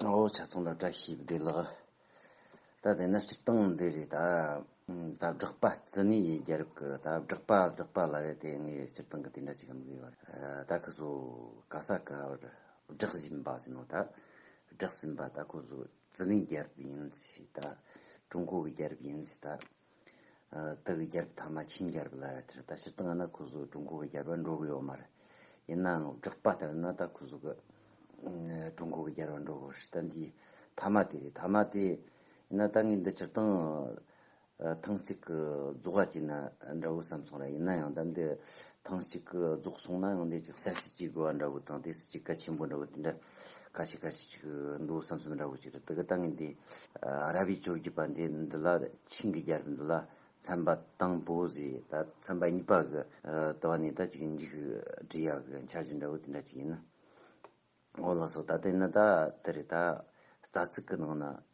ཨོ་བྱ་ཚང་ལ་བཀྲ་ཤིས་བདེ་ལགས། ད་དེ་ནི་སྤྱིར་བཏང་འདི་རེད་ད། ད་བསྒྲགས་པ་རྩི་ནི་ཡི་རྒྱལ་རབས་ཀྱི་ད་བསྒྲགས་པ་བསྒྲགས་པ་ལ་བས་དེ་ངས་སྤྱིར་བཏང་གི་དེ་འདྲ་ཅིག་གམ་གི་བར་ད་ཁོ་ཚོ་ག་ས་ག་བར་བསྒྲགས་བཞིན་པ་ཟིན་ནོ་ད་བསྒྲགས་ཟིན་པ་ད་ཁོ་ཚོ་རྩི་ནི་རྒྱལ་རབས་ཡིན་ཞེས་ད་ཀྲུང་གོ་གི་རྒྱལ་རབས་ཡིན་ཞེས་ད། ཏཱ་གི་རྒྱལ་རབས་མཐའ་མ་ཆིན་རྒྱལ་རབས་ལ་དེར་ད་ཕྱིར་ཏཱ་ང་ན་ཁུ་ཟུ་ཀྲུང་གོ་གི་རྒྱལ་བར་འགྲོ་གི་ཡོད་མ་རེད། ཡིན་ནའང་བསྒྲགས་པ་ལྟར་ན་ད་ཁུ་ཟུ་ཀ་ཀྲུང་གོ་གི་རྒྱལ་བར་འགྲོ་གི་རེད། ད་འདི་མཐའ་མ་དེ་རེད་མཐའ་མ་དེ་ཡིན་ན་ད་ངས་འདི་ཕྱིར་བཏང་ཐང་ཅིག་གི་རྫོགས་ཡ་བྱས་ན་འདྲ་བོ་བསམ་སོང་ར་ཡིན་ནའང་ད་འདི་ཐང་ཅིག་གི་རྫོགས་སོང་ནའང་འདི་ཅིག་ས་སྲིད་ཅིག་དགོས་བ་འདྲ་བོ་དང་དེ་སྲིད་ཅིག་ག་ཆེན་པོ་འདྲ་བོ་དེ་འདྲ་ཁ་ཤས་ཁ་ཤས་ཤིག་འདུག་བསམ་བསམ་འདྲ་བོ་ཞིག་རེད་དེ་ག་ལྟ་ངན་འདི་ཨ་ར་བི་ཅོ་བརྒྱུད་པ་འདི་འདི་ལ་ཆིངས་ཀྱི་རྒྱལ་རབས་འདི་ལ་ཚན་པ་དང་པོ་ཟེར་ད་ཚན་པ་གཉིས་པ་གི་ལྟ་བ་ནས་ད་ཅིག་འཇིག་བྲིས་ཡག་གི་འཆར་གཞི་འདྲ་བོ་དེ་འདྲ་ཅིག་ཡིན་ན་འོ་ལགས་སོ་ད་ལྟ་ཡིན་ན་ད་དེ་རེད་ད་རྩ་ཚིག་གི་ནང་ན་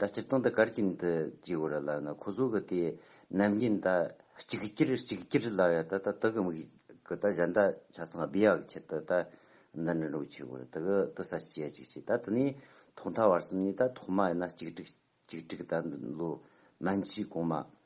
ད་སྤྱིར་བཏང་དུ་གར་གྱིན་དུ་ཇི་བོ་ར་ལགས་ན་ཁོ་ཚོ་གི་དེ་ནམ་རྒྱུན་ད་གཅིག་བསྐྱིར་གཅིག་བསྐྱིར་ལབ་ཡ་ད་ད་དུ་གི་མིག་གི་ད་གཞན་ད་ཆ་ཚང་སྦི་ཡག་གི་ཆེད་དུ་ད་འདི་འདྲ་འགྲོ་གི་ཆེ་བོ་ར་དུ་གི་དུ་ས་ཅི་ཡ་ཅིག་བྱེད་ད་དུ་ནི་ཐོག་མཐའ་བར་གསུམ་ནི་ད་ཐོག་མ་ཡིན་ན་གཅིག་བསྒྲིག་གཅིག་བསྒྲིག་ད་འདི་ལོ་སྨན་སྤྱི་གོང་མ།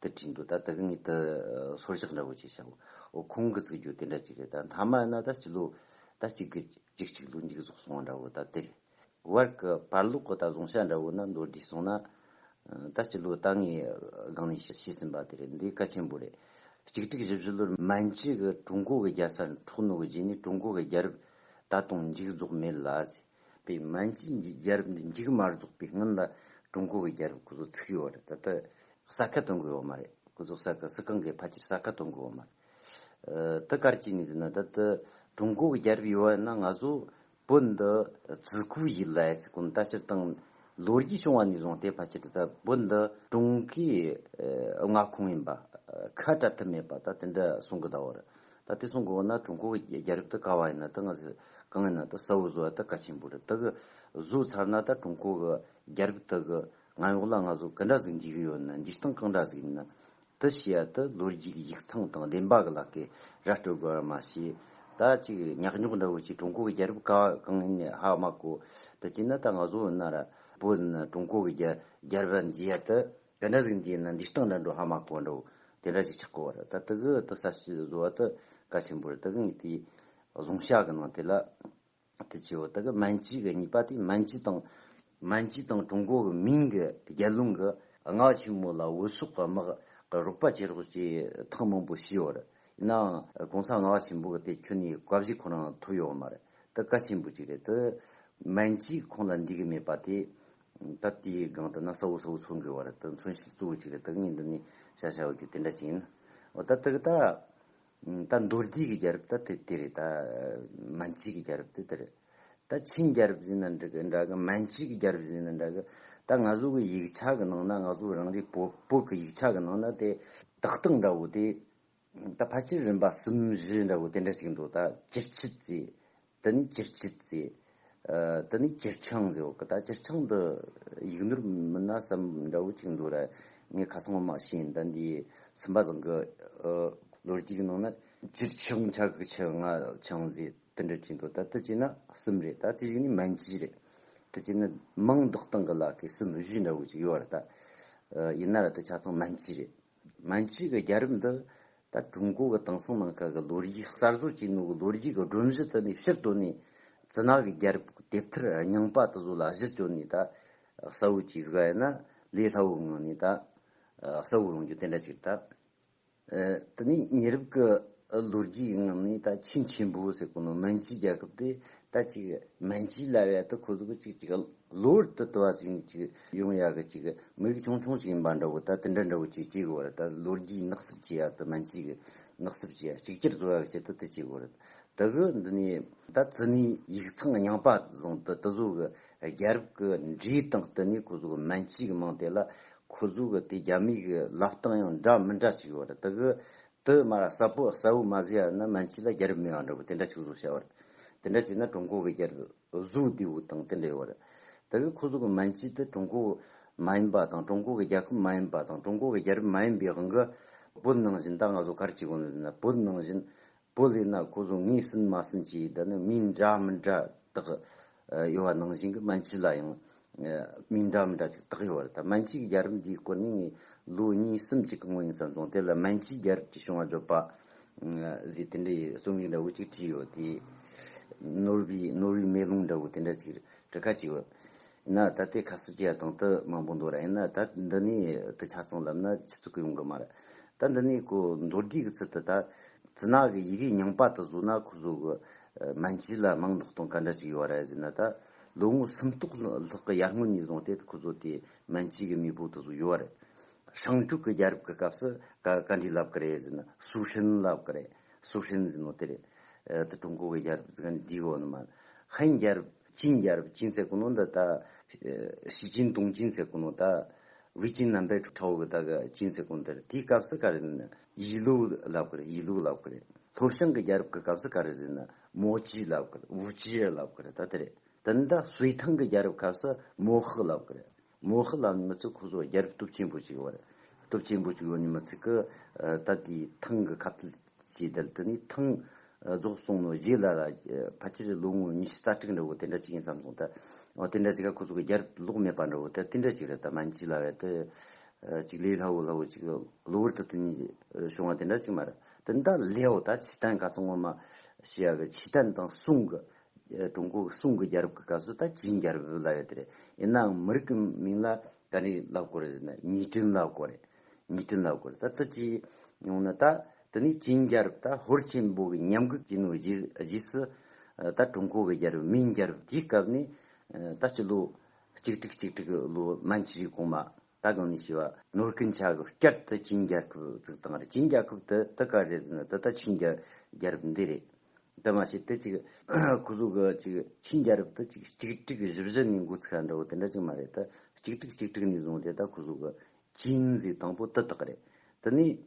དུ་བྲིས་འདུག་ད་དག་ཉིད་དུ་སོར་བཞག་འདྲ་བོ་ཅིག་བྱའོ། འོ་ཁོང་གི་ཚིག་སྦྱོར་དེ་འདྲ་ཅིག་རེད་ད། མཐའ་མ་ཡིན་ན་ད་གཅིག་ལོ་ད་གཅིག་གི་གཅིག་གཅིག་ལོ་འཇིག་རྫོགས་སོང་བ་འདྲ་བོ་ད་དེ་རེད། བར་གི་བར་ལོག་གི་ད་བཟུང་བྱ་འདྲ་བོ་ན་མདོར་བསྡུས་སོང་ན། ད་གཅིག་ལོ་ད་ངས་སྒང་ནས་ཤེས་ཟིན་པ་དེ་རེད་འདི་གལ་ཆེན་པོ་རེད། གཅིག་དྲུག་བཞི་བཞི་ལོར་མན་ཇི་གི་ཀྲུང་གོ་གི་རྒྱལ་ས་འཕྲོག་ནོ་གི་རྗེས་ནས་ཀྲུང་གོ་གི་རྒྱལ་རབས་ད་དུང་འཇིག་རྫོགས་མེད་ལ། པའི་མན་ཇུའི་རྒྱལ་རབས་འདི་མཇུག་མ་རྫོགས་པའི་སྔོན་ལ་ཀྲུང་གོ་གི་རྒྱལ་རབས་སྐུ་ཚོགས་ཚུགས་ཡོད་རེད་ད་ལྟ་ས་ཁ་གཏོང་དགོས་ཡོད་མ་རེད་སྐུ་ཚོགས་ས་ཁ་སི་ཁང་གིས་ཕལ་ཆེར་ས་ཁ་གཏོང་དགོས་ཡོད་མ་རེད་དེ་གར་གྱི་ནི་འདི་ན་ད་ལྟ་ཀྲུང་གོ་གི་རྒྱལ་རབས་ཡོད་ན་ང་ཚོ་བོད་འདི་བརྩི་སྐུལ་ཞིག་ལས་ཚེ་ཀུན་ལྟ་སྤྱིར་བཏང་ལོ་རྒྱུས་བྱུང་བ་ནས་བཟུང་སྟེ་ཕལ་ཆེར་ད་ལྟ་བོད་འདི་ཀྲུང་གོའི་མངའ་ཁོངས་ཡིན་པ་ཁ་གྲག་ཐུབ་མེད་པ་ད་དེ་འདྲ་གསུང་གི་ད་བར་ད་ལྟའི་སོང་གོ་ན་ཀྲུང་གོ་གི་རྒྱལ་རབས་ད་ག་བ་ཡིན་ན་ད་ང་གང་ཡིན་ན་ད་ས་འོ་ཟོ་ད་ག་ཆེན་པོ་རེད་ད་གི་གཟུགས་ཚར་ན་ད་ཀྲུང་གོ་གི་རྒྱལ་རབས་ད་གི་ང་ཡོག་ལ་ང་ཟོ་ག་འདྲ་ཟིག་འཇིག་གི་ཡོད་ན་འཇིག་སྟངས་གང་འདྲ་ཟིག་ཡིན་ན་ད་ཤི་ཡ་ད་ལོ་རྒྱུས་གི་ཡིག་ཚང་དང་བདེན་པ་གི་ལག་གི་ར་སྤྲོད་དགོས་ཡ་མ་ཤི་ད་ཅིག་ཉག་ཉོག་འདྲ་བོ་ཅིག་ཀྲུང་གོ་གི་རྒྱལ་རབས་ག་བ་གང་ཡིན་ནི་ཧ་མ་གོ་ད་ཅིག་ན་ད་ང་ཟོ་ཡོད་ན་ར་པོ་ཡིན་ན་ཀྲུང་གོ་གི་རྒྱལ་རབས་ར་འཇིག་ཡ་ད། དེ་འདྲ་ཟིག་འདིའི་ནི་འདི་ལྟག་འདྲ་འགྲོ་ཧ་མ་གོ་འགྲོ། དེ་འདྲ་ཞིག་ཆགས་གོ། ད་དུ་གི་དུ་ས་ཞིག་བཟོ་བ་དུ་ག་ཆེན་པོ་རེད་དུ་གི་ངས་དེའི་བཟུང་བྱ་གི་ནང་དེ་ལ་དུ་ཆེ་བོ་དུ་གི་མན་ཇི་གི་གཉིས་པ་དེ་མན་ཇི་དང། མན་ཇི་དང་ཀྲུང་གོ་གི་མིང་གི་རྒྱལ་རླུང་གི་སྔགས་ཆེན་མོ་ལ་འོད་སྲོག་གི་དམག་གི་རོགས་པ་བྱེད་རོགས་ཅེས་ཐག་མང་པོ་བྱས་ཡོད་རེད། ཡིན་ནའང་གོང་ས་སྔགས་ཆེན་པོ་གི་དེ་ཁྱོད་ནས་གབ་བཞེས་ཁོ་རང་ཐུབ་ཡོད་མ་རེད་དུ་ག་ཆེན་པོ་ཅིག་རེད་དུ། མན་ཇི་ཁོང་ལ་འདྲིས་གི་མེད་པ་དེ་ད་ལྟ་དེའི་སྒང་དུ་ན་ས་འུ་ས་འུ་ཚུར་འགུལ་བ་རེད་དོ་མཚོན་བྱེད་གཙོ་བོ་གཅིག་རེད་བདག་གཉིས་འདི་ནི་བྱ་བྱ་འོ་གྱུ་དེ་འདྲ་ཅིག་ཡིན། འོ་ད་ཐུག་ད། ད་མདོ་རྒྱུད་ཀྱི་རྒྱལ་རབས་ད་དེ་དེ་རེད་ད། མན་ཇིས་ཀྱི་རྒྱལ་རབས་དེ་དེ་རེད། ད་ཆིན་རྒྱལ་རབས་ཟིན་ན་འདྲ་གི། མན་ཇིས་ཀྱི་རྒྱལ་རབས་ཟིན་ན་འདྲ་གི། ད་ང་ཚོ་གི་ཡིག་ཆ་གི་ནང་ན་ང་ཚོ་རང་རེའི་བོད་བོད་ཀྱི་ཡིག་ཆ་གི་ནང་ན་དེ་ཏག་ཏག་འདྲ་བོ་དེ་ད་ཕ་ཁྱེར་རིམ་པ་གསུམ་བཞི་འདྲ་བོ་དེ་འདྲ་ཞིག་འདུག་ད་ཅིར་ཆིལ་རྩེ། འདི་ནི་ཅིར་ཆིལ་རྩེ། འདི་ནི་ཅིར་ཆང་རྩེ་འོ་ཀ་ད་ཅིར་ཆང་འདི་ཡིག་ནོར་མིན་ན་བསམ་འདྲ་བོ་ཅིག་འདུག་ར་ངས་ཁ་སང་ངོ་མ་ཤེས་ཟིན་ད་འདིའི་སུམ་པ་བཟང་གི་ལོ་རྒྱུས་ཀྱི་ནང་ན། ཅིར་ཆང་ཆ་གི་ཆི་ང་ཆང་རྩེ་དེ་འདྲ་ཅིག་འདུག་ད་དེ་བྱས་ན་གསུམ་རེད་ད་དེ་བཞི་ནི་མན་གྱི་རེད། དེ་བྱས་ན་མིང་འདོགས་སྟངས་ཀྱི་ལ་ཁའི་གསུམ་བཞི་འདྲ་བོ་ཅིག་ཡོད་ར་ད། ཡིན་ན་ར་དེ་ཆ་ཚང་མན་གྱི་རེད། ང་ཚོས་ཀྱི་རྒྱལ་རབས་འདི་ད་ཀྲུང་གོ་གི་དེང་སང་ནང་ཁག་གི་ལོ་རྒྱུས་གསར་བཟོ་བྱེད་ནུས་ཀྱི་ལོ་རྒྱུས་ཀྱི་སྒྲོམ་གཞི་དེ་ནི་ཕྱིར་དོར་ནས་རྫུན་ནག་གི་རྒྱལ་རབས་ཀྱི་དེབ་ཐེར་རྙིང་པ་དེ་ཚོ་ལ་གཞི་བཅོལ་ནས་ད་གསལ་བོ་གཅིག་གཟིགས་པ་ཡིན་ན་ལས་སླ་བོའི་ངང་ནས་ད་གསལ་བོ་ཡོང་རྒྱུ་དེ་འདྲ་གཅིག་རེད། དེ་ནས་ཉེ་རབས་ཀྱི་ལོ་རྒྱུས་ཀྱི་ངང་ནས་ད་ཆེས་ཆེན་པོ་ཟེར་དགོས་ན་མན་ཇུའི་རྒྱལ་ཁབ་དེ་ད་ཅིག་མན་ཇུའི་ལྭ་བའི་དེ་ཁོ་ཚོ་གཅིག་གཅིག་གློ་བུར་དུ་ལྟོ་བ་ཟིང་གི་ཅིག་ཡོང་ཡག་གི་ཅིག་མི་རིགས་ཆུང་ཆུང་ཞིག་ཡིན་པ་འདྲ་བོ་ད་དེ་འདྲ་འདྲ་བོ་ཅིག་སྐྱེ་དགོས་རེད་ད་ལོ་རྒྱུས་ནག་སུབ་བྱེད་ཡག་དུ་མན་ཅིག་གི་ནག་སུབ་བྱེད་ཡག་གཅིག་གྱུར་བཟོ་ཡག་བྱེད་དུ་དེ་སྐྱེ་དགོས་རེད་ད་བོད་འདི་ནས་ད་བཙུ་ནས་ཡིག་ཚང་རྙིང་པ་བཟུང་དུ་དུ་བཟོ་གི་རྒྱལ་རབས་ཀྱི་འབྲས་དང་བསྟུན་ནས་ཁོ་བཟོ་གི་མན་ཅིག་གི་མང་དེ་ལ་ཁོ་བཟོ་གི་དེ་རྒྱ་མིག་གི་ལབ་སྟངས་ཡང་འདྲ་མི་འདྲ་ཅིག་ཡོད་རེད་ད་བོད་དུ་སྨ་ར་གསལ་པོ་གསལ་བོ་མ་བཟོ་ཡག་ན་མན་ཅིག་ལ་རྒྱལ་རབས་མེད་པ་འདྲ་བོ་དེ་འདྲ་ཅིག་བཟོ་བྱ་བ་རེད་དེ་འདྲ་བྱས་ན་ཀྲུང་གོ་གི་རྒྱལ་རབས། གཟུགས་ལྡེའུ་དང་དེ་ལས་བར་དོ་བའི་ཁུ་གཟུགས་མན་ཆད་དེ་ཀྲུང་གོ་མ་ཡིན་པ་དང་ཀྲུང་གོ་གི་རྒྱལ་ཁབ་མ་ཡིན་པ་དང་ཀྲུང་གོ་གི་རྒྱལ་རབས་མ་ཡིན་པའི་དབང་གིས་བོད་ནང་བཞིན་ད་ང་ཚོ་གར་སྐྱེ་དགོས་ན་དེ་ན་བོད་ནང་བཞིན་བོད་ལས་ན་ཁོ་ཚོ་ངས་ཟིན་མ་ཟིན་གྱིས་དེ་ནི་མིང་འདྲ་མི་འདྲ་དག་ཡོད་པ་ནང་བཞིན་གྱི་མན་ཆད་ལ་ཡང་སྨིན་འདྲ་འདྲ་ཅིག་དག་ཡོད་པ་རེད་ད་མན་ཇུའི་རྒྱལ་རབས་འདིའི་སྐོར་ནི་ངས་ལོ་གཉིས་གསུམ་གཅིག་གི་སྔོན་ཡིན་བསམ་སོང་དེ་ལ་མན་ཇུའི་རྒྱལ་རབས་ཀྱི་བྱུང་བ་བརྗོད་པ་ཟིག་དེ་འདྲའི་རྩོམ་ཡིག་འདྲ་བོ་ཅིག་བྲིས་ཡོད་དེ། ནོར་བུའི་ནོར་བུའི་མེ་ལོང་འདྲ་བོ་དེ་འདྲ་ཅིག་བྲི་ཁ་ཅིག་ཡོད། ཡིན་ན་ད་དེ་ཁ་གསབ་བྱེད་ཡ་དང་དུ་མང་པོ་འདུག་ར་ཡིན་ན་ད་འདི་ནས་དུ་ཆ་ཚང་ལབ་ན་ཆུ་ཚུགས་ཡོང་གི་མ་རེད་ད་འདི་ནས་ཁོ་མདོ་རྒྱུད་ཀྱི་ཚུལ་དུ་ད་ཛི་ནག་གི་ཡི་གེ་རྙིང་པ་དུ་བཟོ་ན་ཁོ་བཟོ་གི་མན་ཇུ་ལ་མིང་འདོགས་སྟངས་ག་འདྲ་ཅིག་ཡོད་ར་ཟེར་ན་ད། ལོ་ངོ་སུམ་སྟོང་ལྷག་གི་ཡར་སྔོན་ནས་བཟུང་སྟེ་ཁོ་ཚོ་དེ་མན་ཇུའི་མེས་པོ་དུ་བཟུང་ཡོད་རེད། ཧྲང་ཀྲུག་གི་རྒྱལ་རབས་ཀྱི་སྐབས་སུ་ག་འདྲའི་ལབ་ཀི་རེད་ཟེར་ན་སུའུ་ཧྲན་ལབ་ཀི་རེད། སུའུ་ཧྲན་ཟེར་ནོ་དེ་རེད། དེ་ཀྲུང་གོ་གི་རྒྱལ་རབས་ག་འདྲའི་འོག་ནས་མ་རེད། ཧན་རྒྱལ་རབས་ཅིན་རྒྱལ་རབས་ཅིན་ཟེར་གི་ནོ་འདི་ད། ཞི་ཅིན་ཏུང་ཅིན་ཟེར་གི་ནོ་ད། ཝི་ཅིན་རྣམ་པས་ཁྲའོ་གི་ད་གི་ཅིན་ཟེར་གི་ནོ་དེ་རེད། དེའི་སྐབས་སུ་ག་རེད་ཟེར་ན་ཡི་ལུའུ་ལབ་ཀི་རེད་ཡི་ལུའུ་ལབ་ཀི་རེད། ལྷོ་བྱང་གི་རྒྱལ་རབས་ཀྱི་སྐབས་སུ་ག་རེད་ཟེར་ན་མོ་ཅི་ལབ་ཀི་རེད་བུ་ཅི་རེད་ལབ་ཀི་རེད་ད་ལྟ་རེད་དེ་འདྲ་སུའི་ཐང་གི་རྒྱལ་རབས་ཁབ་སུ་མོ་ཧི་ལབ་ཀི་རེད་མོ་ཧི་ལབ་ནི་མི་ཚོས་ཁོ་ཚོ་རྒྱལ་རབས་སྟོབས་ཆེན་པོ་ཞིག་ཡོད་རེད་སྟོབས་ཆེན་པོ་ཞིག་ཡོད་ནི་མི་ཚིག་གི་ད་ལྟའི་ཐང་གི་ཁབ་དལ་གྱིས་དལ་དུ་ནི་ཐང་རྫོགས་སོང་ནོ་རྗེས་ལ་ལ་ཕ་ཁྱི་རི་ལོ་ངོ་ཉི་ཤུ་རྩ་ཁྲིག་འདྲ་བོ་དེ་འདྲ་ཅིག་ཡིན་བསམ་སོང་ད་འོ་དེ་འདྲ་ཅིག་ཁོ་ཚོ་གི་རྒྱལ་རབས་དུ་ལོག་མེད་པ་འདྲ་བོ་དེ་དེ་འདྲ་ཅིག་རེད་ད་མ་འཇིག་ལ་བས་དེ་ཅིག་ལས་སླ་བོ་སླ་བོ་ཅིག་གློ་བུར་དུ་དེ་གཉིས་བྱུང་བ་དེ་འདྲ་ཅིག་མ་རེད། དེ་འདྲ་ལེའོ་ད་ཇི་ཏན་ག་ཚོད་ངོ་མ་ཞེས་ཡ་གི་ཇི་ཏན་དང་སུང་གི། ཀྲུང་གོ་གི་སུང་གི་རྒྱལ་རབས་ཀྱི་སྐབས་སུ་ད་ཇིན་རྒྱལ་རབས་ལབ་ཡོད་རེད། ཡིན་ནའང་མི་རིགས་ཀྱི་མིང་ལ་ག་རེ་ལབ་དགོས་རེད་ཟེར་ན་ཉི་ཀྲིན་ལབ་དགོས་རེད། ཉི་ཀྲིན་ལབ་དགོས་རེད་ད་ད་ཅི་ཡོང་ན་ད་དེ་ནི་ཇིན་རྒྱལ་རབས་ད་ཧོར་ཆེན་པོ་གི་ཉམས་གུད་ཀྱི་ནུས་རྗེས་སུ། ད་ཀྲུང་གོ་གི་རྒྱལ་རབས་མིང་རྒྱལ་རབས་དེའི་སྐབས་ནི་ད་ཕྱི་ལོ་གཅིག་ཁྲི་གཅིག་ཁྲི་གི་ལོ་མན་ཇི་ཞིག་གོང་མ། ད་གང་ནས་བྱས་པ། ནོར་སྐྱིན་ཆ་གི་བསྐྱར་དུ་ཆིན་རྒྱལ་ཁབ་བཙུགས་སྟངས་རེད་ཆིན་རྒྱལ་ཁབ་དེ་དེ་ག་རེད་ཟེར་ན་དེ་ད་ཆིན་རྒྱལ་རྒྱལ་རབས་འདི་རེད། དེ་མ་ཤེས་དེ་ཅིག་ཁོ་ཚོ་གི་ཅིག་ཆིན་རྒྱལ་རབས་དེ་ཅིག་གཅིག་དཀྲིགས་བཞི་བཞི་ནས་འགོ་ཚུགས་ས་འདྲ་བོ་དེ་འདྲ་ཅིག་མ་རེད་དེ་གཅིག་དཀྲིགས་གཅིག་དཀྲིགས་ནས་བཟུང་དེ་ད་ཁོ་ཚོ་གི་ཆིན་གཟིགས་སྟངས་པོ་དེ་དག་རེད། དེ་ནས་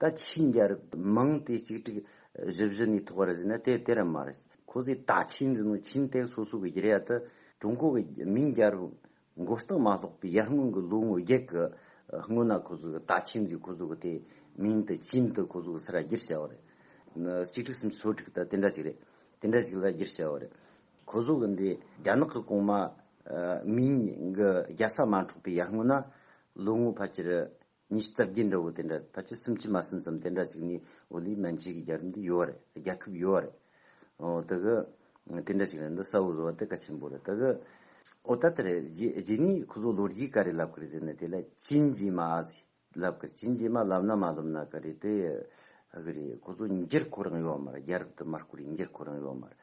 ད་ཕྱིས་འགྱ་རེ་མང་དེ་གཅིག་དྲུག་བཞི་བཞི་ནས་ཐོག་རེ་ཟིན་ན་དེ་དེ་ར་མ་རེད། ཁོ་ཚོས་ད་ཕྱིས་འཛིན་ནོ་ཆིན་སྟེགས་སོ་སོ་གི་རྒྱལ་ཡ་དུ་ཀྲུང་གོ་གི་མིང་འགྱ་རུ་མགོ་བཏགས་མ་ལྷོག་པའི་ཡར་སྔོན་གི་ལོ་ངོ་བརྒྱད་གི་སྔོན་ན་ཁོ་ཚོས་ད་ཕྱིས་འཛིན་ཁོ་ཚོ་གི་དེ་མིང་དུ་ཅིན་དུ་ཁོ་ཚོ་གི་སི་ར་སྒྱུར་བྱ་བ་རེད། གཅིག་དྲུག་སུམ་ཅུ་སོ་དྲུག་ད་དེ་འདྲ་ཞིག་རེད། དེ་འདྲ་ཞིག་ལ་སྒྱུར་བྱ་བ་རེད། ཁོ་ཚོ་གི་འདི་རྒྱ་ནག་གི་གོང་མ་མིང་གི་རྒྱལ་ས་མ་འཕྲོག་པའི་ཡར་སྔོན་ན་ལོ་ངོ་ཕལ་ཆེར་ཉི་ཤུ་རྩ་བརྒྱད་འདྲ་བོ་དེ་འདྲ་ཕལ་ཆེར་སུམ་ཅུ་མ་སུམ་ཙམ་དེ་འདྲ་ཅིག་ནི་ཨོ་ལིའི་མན་ཆད་ཀྱི་རྒྱལ་རིམ་དུ་ཡོད་རེད་རྒྱལ་ཁབ་ཡོད་རེད། ད་གི་དེ་འདྲ་ཅིག་རེད་འདི་ས་འོག་བཟོ་བ་དེ་གལ་ཆེན་པོ་རེད་ད་གི། ཨོ་ད་ལྟ་རེད་རྗེས་ནས་ཁོ་ཚོ་ལོ་རྒྱུས་ག་རེ་ལབ་གི་རེད་ཟེར་ན་དེ་ལ་ཅི་མཇེ་མ་ཟིག་ལབ་གི་རེད་ཅི་མཇེ་མ་ལབ་ན་མ་ལོབ་ན་ག་རེ་དེ་གི་རེད་ཁོ་ཚོ་འགྱུར་ཁོ་རང་ཡོད་མ་རེད་རྒྱལ་རབས་དུ་མར་བསྐོར་ཡིན་འགྱུར་ཁོ་རང་ཡོད་མ་རེད་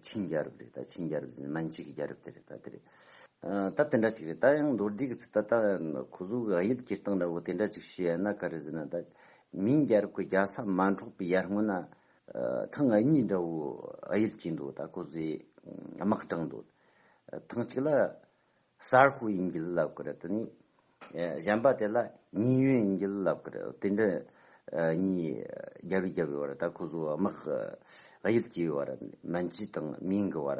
ཆིན་རྒྱལ་རབས་རེད་ད་ཆིན་རྒྱལ་རབས་ཟེར་ནས་མན་ཆད་ཀྱི་རྒྱལ་རབས་དེ་རེད་ད་དེ་རེད། ད་དེ་འདྲ་ཅིག་རེད་ད་ཡང་མདོར་བསྡུས་ཀྱི་ཚིག་ད་ལྟ་གོ་གཟུགས་ག་ཡུལ་སྐྱེལ་སྟངས་འདྲ་བོ་དེ་འདྲ་ཅིག་ཞུས་ཡ་ན་ག་རེ་ཟེར་ན་ད་མིང་རྒྱལ་རབས་ཀྱི་རྒྱལ་ས་མ་འཕྲོག་པའི་ཡར་སྔོན་ན་ཐང་ང་གཉིས་འདྲ་བོ་ག་ཡུལ་སྐྱེས་འདུག་ད་གོ་གཟུགས་དམག་དྲངས་འདུག་ཐང་གཅིག་ལ་གསར་ཤོག་ཡིན་གྱི་ལབ་གི་རེད་དེ་ནས་གཞན་པ་དེ་ལ་ཉེན་གཡོལ་ཡིན་གྱི་ལབ་གི་རེད་དེ་འདྲ་གཉིས་རྒྱབ་རི་རྒྱབ་ཡོད་བར་ད་གོ་གཟུགས་དམག་ག་ཡུལ་སྐྱེས་ཡོད་བར་མན་ཇི་དང་མིང་གི་བར་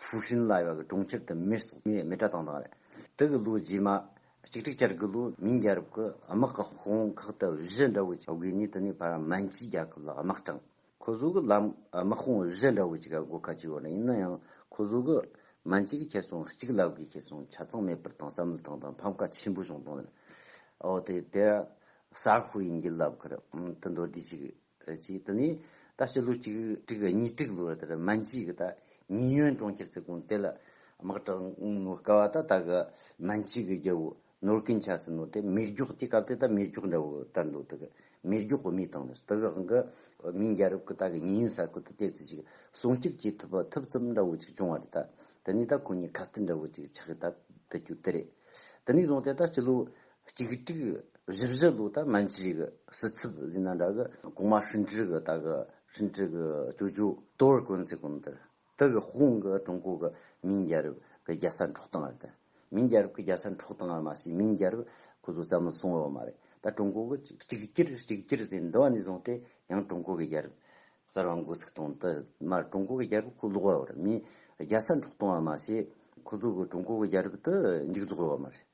ཧྥུའུ་ཧྲིན་བླ་བ་གི་གྲོང་ཁྱེར་དུ་མེར་བསྲེགས་མའི་མེ་སྒྲ་དང་བདག་རེད། དུ་གི་ལོ་རྗེས་མ། གཅིག་དྲུག་བཅར་དགུ་ལོའི་མིང་རྒྱལ་རབས་ཀྱི་དམག་གི་དཔུང་ཁག་དུ་བཞི་འདྲ་བོ་ཅིག་དགོས་ངེས་དུ་ནི་བར་མན་གྱི་རྒྱལ་ཁབ་ལ་དམག་དྲངས། ཁོ་བཟོ་གི་ལམ་དམག་དཔུང་བཞི་འདྲ་བོ་ཅིག་ག་དགོས་ཁ་ཅིག་ཡོད་ན་ཡིན་ན་ཡང་ཁོ་བཟོ་གི་མན་གྱི་གི་ཁེ་སོང་གཅིག་བླ་བགོས་ཁེ་སོང་ཆ་ཚང་མེད་པར་དང་བསམ་བློ་བཏང་དང་ཕམ་ཁ་ཆེན་པོ་བྱུང་དང། ཨོ་དེ་དེ། གསར་ཤོག་ཡིན་གྱི་ལབ་ཁར་དུ་མདོར་བསྡུས་ཅིག་དེ་གཅིག་དེ་ནས་ད་སྤྱི་ལོ་གཅིག་དྲུག་གཉིས་དྲུག་ལོར་དེར་སྨན་སྐྱིད་ཀྱི་ད་ཉིན་ཡོན་གྲོང་ཁྱེར་ཚེ་གུང་དེ་ལ་དམག་དྲངས་ནོ་སྐལ་བ་ད་ད་གི་སྨན་སྐྱིད་ཀྱི་རྒྱལ་བོ་ནོར་ཀུན་ཆ་སི་ནོ་དེ་མེར་སྒྱོགས་ཀྱི་སྐབས་དེ་ད་མེར་སྒྱོགས་འདྲ་བོ་དར་འདུག་དེ་གི་མེར་སྒྱོགས་གོ་མི་དང་ནས་དེ་གའང་གི་མིང་རྒྱལ་རབས་ཀྱི་ད་གི་ཉིན་ཡོན་ས་ཁུལ་དུ་དེ་ཚོས་ཅིག་སྲུང་སྐྱོབ་བྱེད་ཐུབ་པ་ཐུབ་ཙམ་འདྲ་བོ་ཅིག་བྱུང་བ་རེད་ད་དེ་ནས་ད་ཁོ་གཉིས་ཁ་བརྡ་འདྲ་བོ་ཅིག་ཆགས་ཀྱི་ད་དུ་རྒྱུ་དེ་རེད་དེ་ནས་བཟུང་སྟེ་ད་སྤྱི་ལོ་གཅིག་དྲུག་བཞི་བཞི་ལོ་ད་སྨན་བཅོས་ཀྱི་སྲིད་ཚབ་ཟིན་ན་འདྲ་གི་གོང་མ་ཧྲིན་ཀྲི་གི་ད་གི་ཧྲིན་ཀྲི་གི་ཅོ་ཅོ་ཏོ་ར་གོན་ཚེ་གོམ་དེར་ཏི་གི་ཧོང་གི་ཀྲུང་གོ་གི་མིང་རྒྱལ་རབས་གི་རྒྱལ་ས་འཕྲོག་སྟངས་རེད་དེ་མིང་རྒྱལ་རབས་གི་རྒྱལ་ས་འཕྲོག་སྟངས་རེད་མ་གཞི་མིང་རྒྱལ་རབས་ཁོ་ཚོ་བཙལ་མི་སོང་ཡོད་མ་རེད་ད་ཀྲུང་གོ་གི་གཅིག་གྱུར་གཅིག་གྱུར་དེ་འདི་བ་ནས་བཟུང་སྟེ་ཡང་ཀྲུང་གོ་གི་རྒྱལ་རབས་གསར་བ་འགོ་ཚུགས་སྟངས་དེ་མར་ཀྲུང་གོ་གི་རྒྱལ་རབས་ཁོ་ལོག་ཡོད་རེད་མིང་རྒྱལ་ས་འཕྲོག་སྟངས་རེད་མ་གཞི་ཁོ་ཚོ་གི་ཀྲུང་གོ་གི་རྒྱལ་རབས་དེ་མཇུག་རྫོགས་ཡོད་མ་རེད།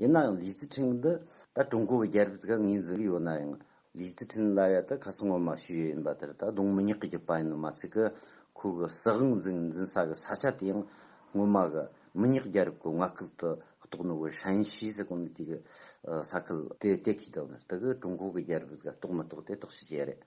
ཡིན་ནའང་ལིས་ཅི་ཁྲིན་འདི་ད་ཀྲུང་གོ་བའི་རྒྱལ་རབས་ཀྱི་སྐབས་ངོས་འཛིན་གྱི་ཡོད་ན་ཡང་ལིས་ཅི་ཁྲིན་ལ་ཡ་ད་ཁ་སང་ངོ་མ་ཞུས་ཡོད་ཡིན་པ་དེར་ད་དུང་མི་ཉག་གི་རྒྱུད་པ་ཡིན་ནོ་མ་ཚད་ཀྱི་ཁོ་གི་སྲིད་དབང་འཛིན་འཛིན་ས་གི་ས་ཆ་དེ་ཡང་སྔོན་མ་གི་མི་ཉག་རྒྱལ་རབས་ཀྱི་མངའ་སྐུལ་དུ་གཏོགས་ནོ་ཝེ་ཧྲན་ཤིས་སི་ཀོན་ཏི་གི་ས་ཁུལ་དེ་དེ་གའི་དོན་དུ་ཀྲུང་གོ་གི་རྒྱལ་རབས་ཀྱི་སྐབས་གཏོགས་མི་གཏོགས་དེ་རྟོག་ཞིབ་བྱེད་ཡ་རེད།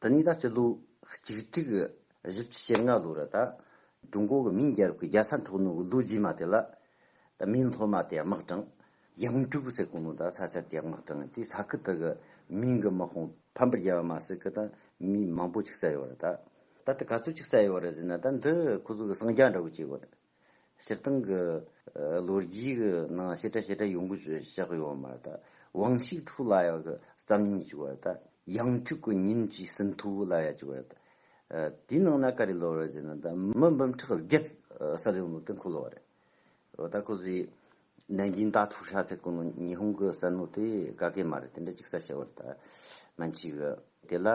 འདི་ནི་ད་སྤྱི་ལོ་གཅིག་དྲུག་བཞི་བཅུ་ཞེ་ལྔ་ལོ་རེད་ད། ཀྲུང་གོ་གི་མིང་རྒྱལ་རབས་ཀྱི་རྒྱལ་ས་འཕྲོག་ནུས་ཀྱི་ལོ་རྗེས་མ་དེ་ལ། ད་མིའི་སློབ་མ་དེ་དམག་དྲངས། གཡང་དྲུག་ཟེར་གོང་ལོ་ད་ས་ཆ་དེ་དམག་དྲངས་དེ་ས་ཁུལ་དག་གི་མིང་གི་དམག་དཔུང་ཕམ་པར་རྒྱལ་བ་མ་ཟིག་གི་ད་མི་མང་པོ་ཅིག་བསད་ཡོད་རེད་ད། ད་ལྟ་ག་ཚོད་ཅིག་བསད་ཡོད་རེད་ཟེར་ན་ད་འདི་ཁོ་ཚོ་གི་སངས་རྒྱ་འདྲ་བོ་བྱས་ཡོད་རེད། སྤྱིར་བཏང་གི་ལོ་རྒྱུས་ཀྱི་ནང་ཞེ་དྲག་ཞེ་དྲག་ཡོང་གི་བཞག་ཡོད་མ་རེད། དབང་ཤིག་ཕྲུག་ལ་ཡག་གི་བསམ་ཉིན་ཅིག་བ་རེད། ཡང་ཐུག་གི་ཉིན་གཅིག་སིན་ཐུ་བུ་ལ་ཡ་ཅིག་བ་རེད། དེའི་ནང་ན་ག་རེ་ལོ་རེད་ཅེ་ན་ད་མི་འབུམ་ཁྲག་བརྒྱད་གསར་ཡོང་ལུགས་དེ་འཁོད་ལོ་བ་རེད། འོ་ད་ཁོ་ཚོས་ནན་ཅིན་ད་ཐུག་ཤ་ཚ་གོ་ནོ་ཉི་ཧོང་གི་ས་ནོར་དེ་ག་གེ་མ་རེད་དེ་འདྲ་ཅིག་ས་ཤ་བ་རེད། མན་ཆི་གི་དེ་ལ་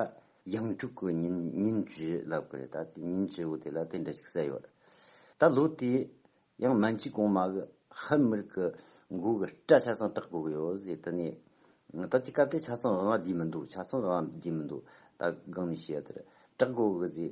ཡང་དྲུག་གི་ཉིན་ཉིན་བཅུའི་ལབ་དགོས་རེད་ད་ཉིན་བཅུ་བོ་དེ་ལ་དེ་འདྲ་ཞིག་གསལ་ཡོད་རེད་ད་ལོ་དེ་ཡང་མན་ཇུའི་གོང་མ་གི་ཧན་མིར་གི་མགོ་གི་སྐྲ་ཆ་ཚང་བཏགས་དགོས་གི་ཡོད་ཟེར་དེ་ནས་ད་ཀྱི་སྐབས་དེ་ཆ་ཚང་དབང་བསྡུས་མི་འདུག་ཆ་ཚང་དབང་བསྡུས་མི་འདུག་ད་སྒང་ནས་བཤད་དེར་བསྐྲག་དགོས་གི་ཟེར་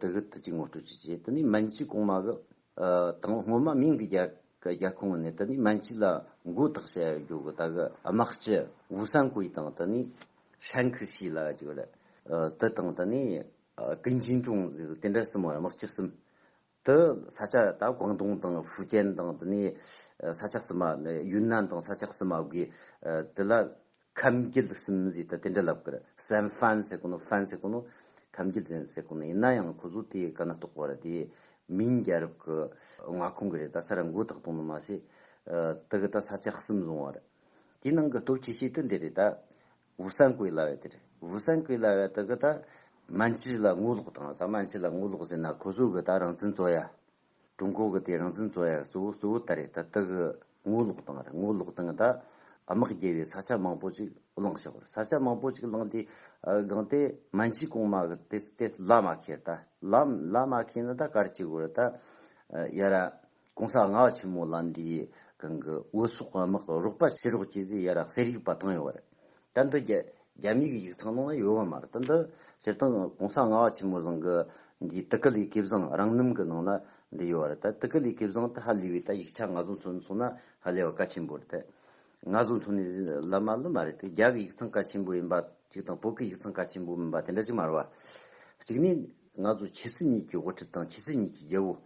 དེ་གི་དུ་ཅིག་ངོ་སྤྲོད་བྱེད་ཅེས་དེ་ནས་མན་ཆི་གོང་མ་གི་དང་བོ་སྔོན་མ་མིང་གི་རྒྱལ་ཁོངས་ནས་དེ་ནས་མན་ཆི་ལ་མགོ་ཐག་བྱ་ཡ་རྒྱོ་གི་ད་གི་དམག་སྤྱི་ཝུ་སན་ཀུའི་དང་དེ་ནས་ཧྲན་ཁི་སི་ལ་རྒྱོ་ལ་དེ་དང་དེ་ནས་ཀིན་ཅིན་ཀྲུང་དེ་འདྲ་གསུམ་དམག་སྤྱི་གསུམ་དུ་ས་ཆ་ད་ཀོང་ཏུང་དང་ཧྥུ་ཅན་དང་དེ་ནས་ས་ཆ་གསུམ་མ་ཡུན་ནན་དང་ས་ཆ་གསུམ་མ་གི་དེ་ལ་ཁམས་རྒྱུད་གསུམ་བཞི་དང་དེ་འདྲ་ལབ་ཀར་སན་ཧྥན་སེ་ཀོ་ནོ Fan Seco ནོ། ཁམས་རྒྱུད་གཟན་སེ་ཀོ་ནོ་ཡིན་ན་ཡང་ཁོ་ཚོ་དེའི་ཀ་ན་གཏོགས་པ་རེད་དེ། མིང་རྒྱལ་རབས་ཀྱི་མངའ་ཁོངས་ཀྱི་རེད་ད་ས་ར་མགོ་ཐག་གཏོང་ནི་མ་ཤེས། དེ་གི་ད་ས་ཆ་གསུམ་བཟུང་བ་རེད། དེའི་ནང་གི་སྟོབས་ཆེ་ཤོས་དེ་འདི་རེད་ད། ཝུ་སན་ཀོའི་ལ་བས་དེ་རེད་ཝུ་སན་ཀོའི་ལ་བས་དེ་གི་ད། མན་ཇི་ལ་ངོ་ལོག་དང་ད་མན་ཇི་ལ་ངོ་ལོག་ཟེར་ན་ཁོ་ཚོ་གི་ད་རང་བཙན་རྩོད་ཡ། ཀྲུང་གོ་གི་དེ་རང་བཙན་རྩོད་ཡ་གཙོ་བོ་གཙོ་བོ་ད་རེས་ད་ལྟ་གི་ངོ་ལོག་སྟངས་རེད་ངོ་ལོག་སྟངས་ད་དམག་རྒྱལ་བའི་ས་ཆ་མང་པོ་ཅིག་བླངས་ཤོག་ས་ཆ་མང་པོ་ཅིག་བླངས་དེ་སྒང་དེ་མན་ཇི་གོང་མ་གི་དེ་དེ་ལ་མ་ཁེལ་ད་ལ་ལ་མ་ཁེལ་ན་ད་གར་ཅིག་དགོས་རེད་ད་ཡ་ར་གོང་ས་ང་ཆེན་མོ་ལ་འདི་གང་གི་འོས་སོག་དམག་རོགས་པ་བྱེད་རོགས་བྱེད་ཟེར་ཡ་ར་ཟེར་ཡིག་པ་བཏང་ཡོད་རེད་དོན་དུ་རྒྱ་མིའི་གི་ཡིག་ཚང་ནང་ན་ཡོད་བ་མ་རེད་དོན་དུ་སྤྱིར་བཏང་གོང་ས་ལྔ་བ་ཆེན་མོ་བཟང་གི་འདིའི་ཏི་ཀི་ལིའི་གིབ་བཟང་རང་རྣམ་གི་ནང་ན་འདི་ཡོད་བ་རེད་ད་ཏི་ཀི་ལིའི་གིབ་བཟང་དེ་ཧ་ལས་བའི་ད་ཡིག་ཆ་ང་ཚོ་ཚོ་ཚོ་ན་ཧ་ལས་བ་ག་ཆེན་པོ་རེད་ད་ང་ཚོ་ཚོ་ནས་ལབ་མ་ལབ་མ་རེད་དེ་རྒྱ་གི་ཡིག་ཚང་ག་ཆེན་པོ་ཡིན་པ་གཅིག་དང་བོད་གི་ཡིག་ཚང་ག་ཆེན་པོ་མིན་པ་དེ་འདྲ་གཅིག་མ་རེད་བ་གཅིག་ནས་ང་ཚོ་ཕྱི་སྲིད་གཉིས་ཀྱི་དབུ་ཁྲིད་དང་ཕྱི་སྲིད་གཉིས་ཀྱི་རྒྱལ་བོ།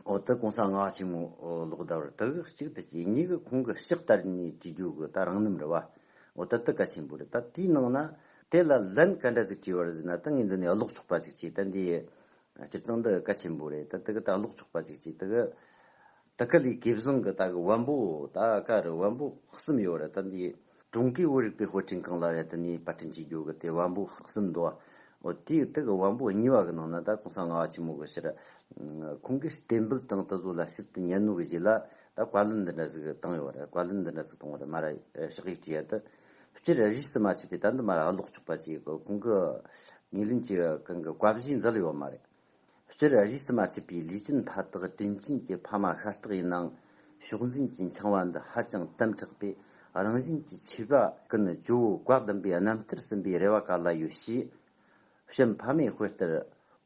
འོ་ད་གོང་ས་སྔགས་ཆེན་མོ་ལོག་ལྟ་བར་དག་གཅིག་ཏུ་བྱས་ཉིད་ཀྱི་ཁོང་གི་གཤེགས་ལྟར་ནི་ཅི་རྒྱུ་གི་ད་རང་རྣམས་རེ་བ་འོ་ད་ད་ག་ཆེན་པོ་རེ་ད་དེའི་ནང་ན་དེ་ལ་ལན་ག་འདྲ་ཅིག་དྲིས་བར་ཟིན་ན་ད་ངས་འདི་ནས་ཀློག་ཆོག་པ་ཅིག་བྱས་ད་འདིའི་སྤྱིར་བཏང་འདི་ག་ཆེན་པོ་རེ་ད་དེ་ག་ད་ཀློག་ཆོག་པ་ཅིག་བྱས་ད་ག་ད་ག་ལས་དགེ་བཟང་གི་ད་གི་དབང་པོ་ད་ག་རི་དབང་པོ་གསུམ་ཡོད་རེ་ད་འདིའི། དྲུང་སྐྱེས་བོ་རིག་པའི་ཧོ་ཀྲིན་ཀང་ལ་ཡ་ཏི་ནིའི་པར་སྐྲུན་གྱི་རྒྱུ་གི་དེ་བམ་པོ་ཧག་སིམ་མདོ་བ་དེའི་སྟེ་གི་བམ་པོ་གཉིས་པ་གི་ནང་ན་ད་གོང་ས་ལྔ་བ་ཆེན་མོ་གི་ཕྱིར་ཁོང་གིས་གཏན་འབུལ་དང་དུ་བཟོ་ལ་ཞིབ་དུ་ཉན་ནོ་གི་གཞི་ལ་ད་བཀའ་ལན་འདི་འདྲ་ཟིག་བཏང་ཡོད་པ་རེད་བཀའ་ལན་འདི་འདྲ་ཟིག་གཏོང་བ་རེད་མ་ར་ཤག་ཡིག་ཅི་ཡ་ཏི་སྤྱིར་གཞིས་རྩེ་མ་ཆད་པའི་ད་འདི་མ་ར་ལོག་ཆོག་པ་ཅིག་གི་གོང་གི་ངེས་ལེན་གྱི་གང་གི་བཀའ་བཞིན་མཛད་ཡོད་པ་མ་རེད། སྤྱིར་རིས་སུ་མ་ཆད་པའི་ལུས་ཅན་མཐའ་དག་དྲིན་ཅན་གྱི་ཕ་མ་ཤ་སྟག་ཡིན་ནའང་ཕྱོགས་འཛིན་གྱི་འཆིང་བ་འདི་ཧ་ཅང་དམ་དྲགས་པས་རང་བཞིན་གྱི་མཆིས་པ་ཀུན་ཇོ་བོའི་བཀའ་བདུན་པའི་རྣམ་ཐར་ཟིན་པའི་རེ་བ་ག་ལ་ཡོད་ཞེས་བྱམས་ཕ་མའི་དཔེ་ལྟར་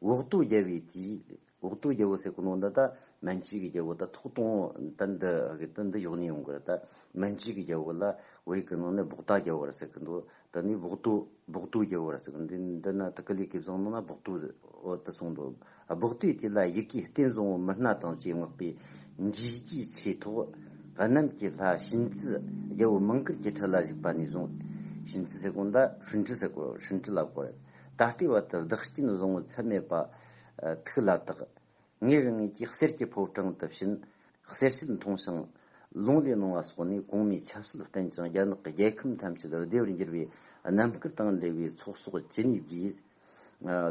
འོག་ཏུ་རྒྱལ་བའི་དུས་འོག་ཏུ་རྒྱལ་པོ་ཟེར་གི་ནོ་འདི་ད་མན་ཇུའི་རྒྱལ་པོ་ད་ཐོག་སྟོང་ད་འདི་འདི་ཡོང་ནས་ཡོང་གི་རེད་ད་མན་ཇུའི་རྒྱལ་པོ་ལ་འོས་གི་ནོ་ནས་འབོག་ད་རྒྱལ་པོ་རེད་ཟེར་གི་འདུག་ད་ནི་སྦོག་ཏུ་སྦོག་ཏུ་རྒྱལ་བོ་ར་ཟེར་གི་འདི་ན་ཐུགས་ཀ་ལས་ཀའི་བཟང་ནང་ན་སྦོག་ཏུ་འོད་དུ་སོང་འདུག་སྦོག་ཏུའི་དུས་ལ་ཡི་གེའི་རྟེན་བཟང་བོ་མི་སྣ་དང་བཅས་བསྔགས་པའི་འཇིགས་བརྒྱའི་ཚེ་ཐོག་གནམ་གྱི་ལྷ་བྱིན་རྩི་རྒྱལ་བོ་མིང་གུར་གྱི་ཁྲི་ལ་བཞུགས་པ་ནས་བཟུང་བྱིན་རྩི་ཟེར་གོང་ད་ཧྲུན་ཁྲི་ཟེར་གོ་ཧྲུན་ཁྲི་ལབ་གོ་རེད་ད་ལྟའི་བར་དུ་བདག་རྐྱེན་བཟང་བོ་ཚད་མེད་པ་ཐུགས་ལ་བཏགས། ངའི་དབྱིན་ཡིག་གིས་གསེར་གྱི་ཕོ་བྲང་དེ་བཞིན་གསེར་བྱེད་མཐོང་ཞིང། ལུང་ལས་སྣང་བ་སོགས་ནི་གོང་མའི་ཆབ་སྲིད་བསྟན་ཅིང་རྒྱ་ནག་གི་རྒྱལ་ཁམས་ཐམས་ཅད་བདེ་བར་འགྱུར་བའི་རྣམ་དཀར་དང་འབྲེལ་བའི་ཚོགས་གསོག་ཇི་སྙེད་བགྱིས།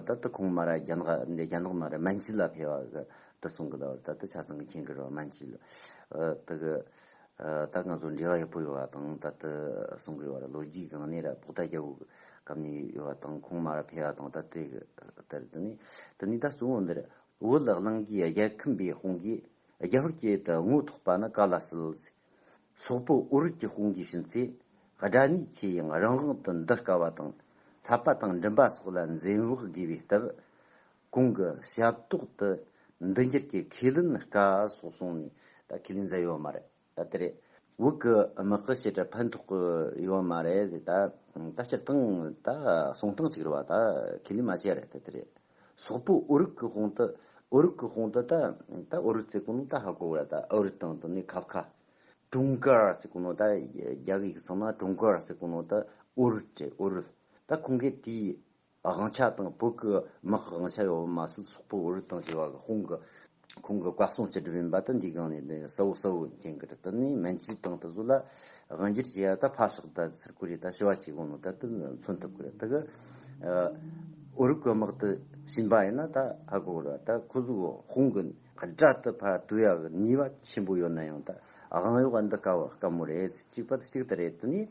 ད་ལྟ་ཁོང་མར་རྒྱ་ནག་རྒྱ་ནག་མར་མན་ཇི་ལ་ཕེབས། དུ་སོང་གི་ད་ལྟ་ཆ་ཚང་གི་མཁན་གི་རུ་མན་ཇི་ལ། དུ། ད་ང་ཚོ་འབྲེལ་བ་ཡག་པོ་ཡོད་པ་དང་ད་ལྟ་གསུང་གི་བར་ལོ་རྒྱུས་གང་ནས་ར་ཕུག་ད་རྒྱ་བོད་སྐབས་ནས་ཡོད་པ་དང་ཁོང་མར་ཕེ་བ་དང་ད་ལྟའི་ལྟར་དུ་ནས་དེ་ནས་ད་སུའོ་འདིར་བོད་ལ་གླང་གིས་རྒྱལ་ཁམས་པའི་དཔུང་གིས་རྒྱ་བོད་ཀྱི་དུ་དངོས་ཐོག་པ་ན་ག་ལ་སྲིད། སོག་པོ་ཨོ་རུད་ཀྱི་དཔུང་གིས་ཕྱིན་ཚེ་དགྲ་གཉིས་ཆེ་ཡང་རང་དབང་དུ་འདུ་དཀའ་བ་དང་ཚ་པ་དང་འགྲིམ་པ་སོགས་ལ་འཛེམ་བག་དགོས་པའི་སྟབས། གོང་གི་ཞབས་ཏོག་ཏུ་འདི་འགྱུར་གྱི་ཁས་ལེན་དཀའ་སོགས་གསུངས་ནས་ད་ཁས་ལེན་མཛད་ཡོད་མ་རེད་ད་དེ་རེད། འུ་གི་དམག་གི་བྱེད་སྒྲ་ཕན་ཐོགས་ཀྱི་ཡོད་མ་རེད་ཟེར་ད་ད་སྤྱིར་བཏང་ད་གསུང་སྟངས་གཅིག་རེད་བ་ད་ཁས་ལེན་མ་བྱས་རེད་ད་དེ་རེད། སོག་པོ་ཨོ་རིག་གི་དཔུང་དུ་ཨོ་རིག་གི་དཔུང་དུ་ད་ད་ཨོ་རིག་ཚེ་གོ་ནོ་ད་ཧ་གོ་རེད་ད་ཨོ་རིག་དང་དུ་ནི་ཁབ་ཁ། ཀྲུང་ཀ་ཟེར་གོ་ནོ་ད་རྒྱ་གིས་ཡིག་ཚང་ན་ཀྲུང་གོ་ཟེར་གོ་ནོ་ད་ཨོ་རུལ་རེད་ཨོ་རུལ། ད་ཁོང་གིས་དེའི་དབང་ཆ་དང་བོད་ཀྱི་དམག་གི་དབང་ཆ་ཡོད་པ་མ་ཟད་སོག་པོ་འོད་རིག་དང་བྱེ་བ་ལ་ཧོང་གི་ཁོང་གི་བཀའ་གསུང་སྤྱི་སྒྲུབ་ཡིན་པ་དང་འདིའི་སྒང་ནས་ནི་སའོ་སའོ་མཁན་གྱི་རི་དེ་ནས་མན་ཇུའི་ཏང་དེ་ཚོ་ལ་དབང་སྒྱུར་བྱེད་ཡ་ད་ཕ་ཤོག་ད་ཚུར་བཀུར་ཡ་ད་ཞི་བ་ཇིའི་དགོངས་ནོ་ད་དེ་ནི་མཚོན་ཐུབ་ཀྱི་རེད་ད་གི་འོད་རིག་གི་དམག་དེ་ཞིན་པ་ཡིན་ན་ད་ཧ་གོ་གི་རེད་ད་ཁོ་ཚོ་གི་ཧོང་གི་སྒྲ་དེ་ཕ་དུ་ཡ་གི་ནུས་པ་ཆེན་པོ་ཡོད་ན་ཡང་ད་དབང་ཡོད་པ་འདི་དཀའ་བ་དཀའ་མོ་རེད་གཅིག་པ་དེ་གཅིག་དེ་རེད་དེ་ནས་